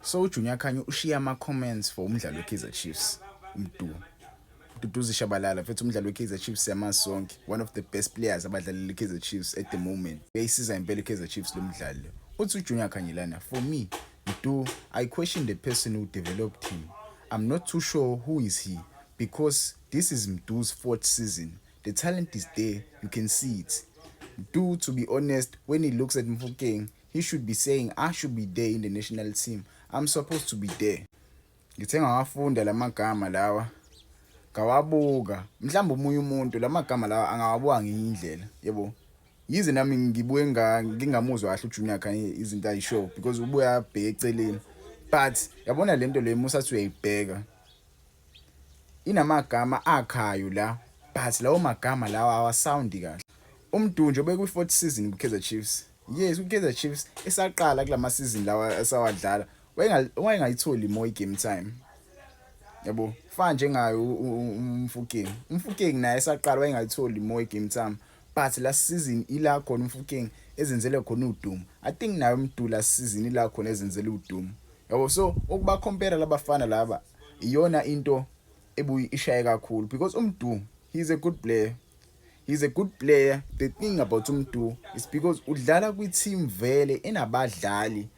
So uJunior Khanye ushiya ama comments for umdlalo weKaizer Chiefs umdu Duduzi Shabalala mfethu umdlalo weKaizer Chiefs yamazi sonke one of the best players abadlalela iKaizer Chiefs at the moment uyayisiza impela iKaizer Chiefs lo mdlalo uthi uJunior Khanye lana for me do I question the person who developed him I'm not too sure who is he because this is Mdu's fourth season the talent is there you can see it Mdu to be honest when he looks at Mfokeng He should be saying I should be there in the national team. I'm supposed to be there. Ngithe ngawafunda lamagama lawa ngawabuka mhlawumbe umunye umuntu lamagama lawa angawabuka ngenye indlela yebo yize nami ngibuye ngingamuzwa kahle uJunior Khanye izinto ayishow because ubuye abheke eceleni but yabona lento le musa athi uyayibheka inamagama akhayo la but lawo magama lawa awasoundi kahle umdunjo bekwi-fourth season kwi-kaizer chiefs Yes, uKaizer Chiefs esaqala kulama season lawa esawadlala wayengayitholi imo i-game time yabo fana njengaye umfukeng umfukeng naye esaqala wayengayitholi imo i-game time but last season ila khona umfukeng ezenzele khona udumo i think naye umdu last season ila khona ezenzele udumo yabo so ukuba compare labafana laba iyona into ebuyi ishaye kakhulu because umdu he is a good player He's a good player. The thing about Umdu is because udlala kwi-team vele enabadlali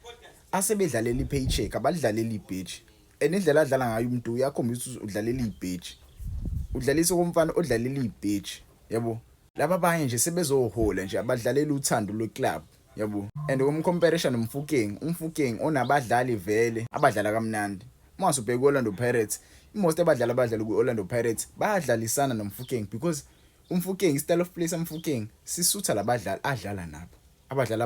asebedlalela i-paycheck abadlalela ibheji and indlela adlala ngayo Umdu uyakhombisa ukuthi udlalela ibheji udlalisa komfana odlalela ibheji yabo laba abanye nje sebezohola nje abadlalela uthando lwe-club yabo and umcomparisa nomfukeng umfukeng onabadlali vele abadlala kamnandi uma subheka ku-orlando pirates imost abadlali abadlala kwi-orlando pirates bayadlalisana nomfukeng because umfukeng i-style of play samfukeng sisutha labadlali adlala nabo abadlali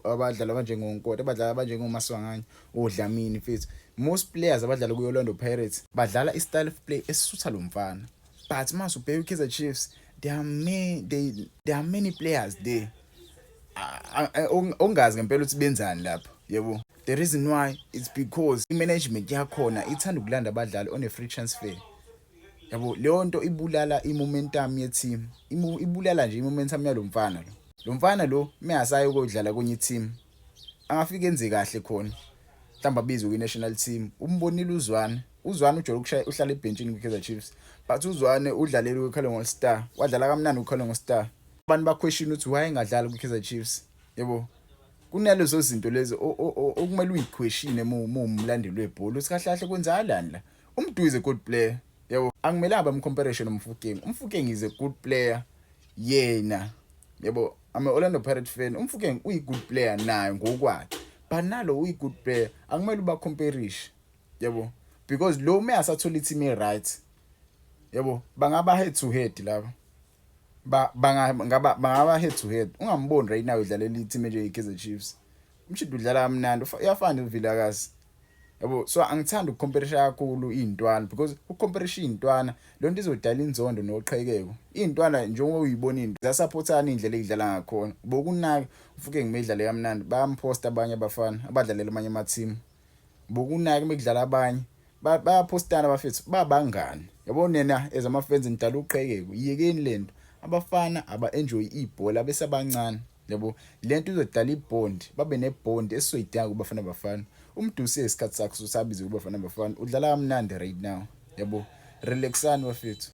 abadlali abanjengonkota abadlali abanjengomaswanganye odlamini fethu most players abadlala kwi-orlando pirates badlala i-style of play esisutha lo mfana but uma subheka i-kaizer chiefs there are many, they, there are many players there ongazi ngempela ukuthi benzani lapho yebo the reason why it's because i-management yakhona ithanda ukulanda abadlali on a free transfer yabo leyo nto ibulala i-momentum ye-team ibulala nje i-momentum yalo mfana lo lo mfana lo meyasaye ukodlala kwenye i-team angafike enze kahle khona mhlawumbe abizwe kwi-national team umbonile uzwane uzwane ujole ukushaya uhlala ebhentshini kwi-kaizer chiefs but uzwane udlalele kwi-calling all star wadlala kamnandi kwi-calling all star abantu baquestion ukuthi why engadlali kwi-kaizer chiefs yebo kunalezo zinto lezi okumele uyiqueshine uma umlandeli webhola ukuthi kahle kahle kwenzakalani la umdu is a good player yebo angimelanga bamcomparison nomfukeng umfukeng is a good player yena yebo ama Orlando Pirates fan umfukeng uyi good player naye ngokwakhe but nalo uyi good player akumele uba comparishe yebo because lo uma asathola i team e right yebo bangaba head to head laba ba bangaba bangaba head to head ungamboni right now udlalela i-team enjenge Kaizer Chiefs umshidi udlala kamnandi uyafana uVilakazi yabo so angithanda ukucomparisa kakhulu iy'ntwana because ukucomparisa iy'ntwana le nto izodala inzondo noqhekeko iy'ntwana njengoba uyibona into zasaphothana iy'ndlela ey'dlala ngakhona bokunaka ufuke ngimidlalo kamnandi bayamphosta abanye abafana abadlalela amanye amathimu bokunake mekudlala abanye bayaphostana bafethu babangani yabo nena as ama fans nidala uqhekeko yekeni lento abafana aba enjoy ibhola besabancane yabo lento izodala ibond babe nebond esizoyidinga kubafana bafana umdusi esikhathi sakhe sosabize kubafana bafana udlala kamnandi right now yabo relaxani bafethu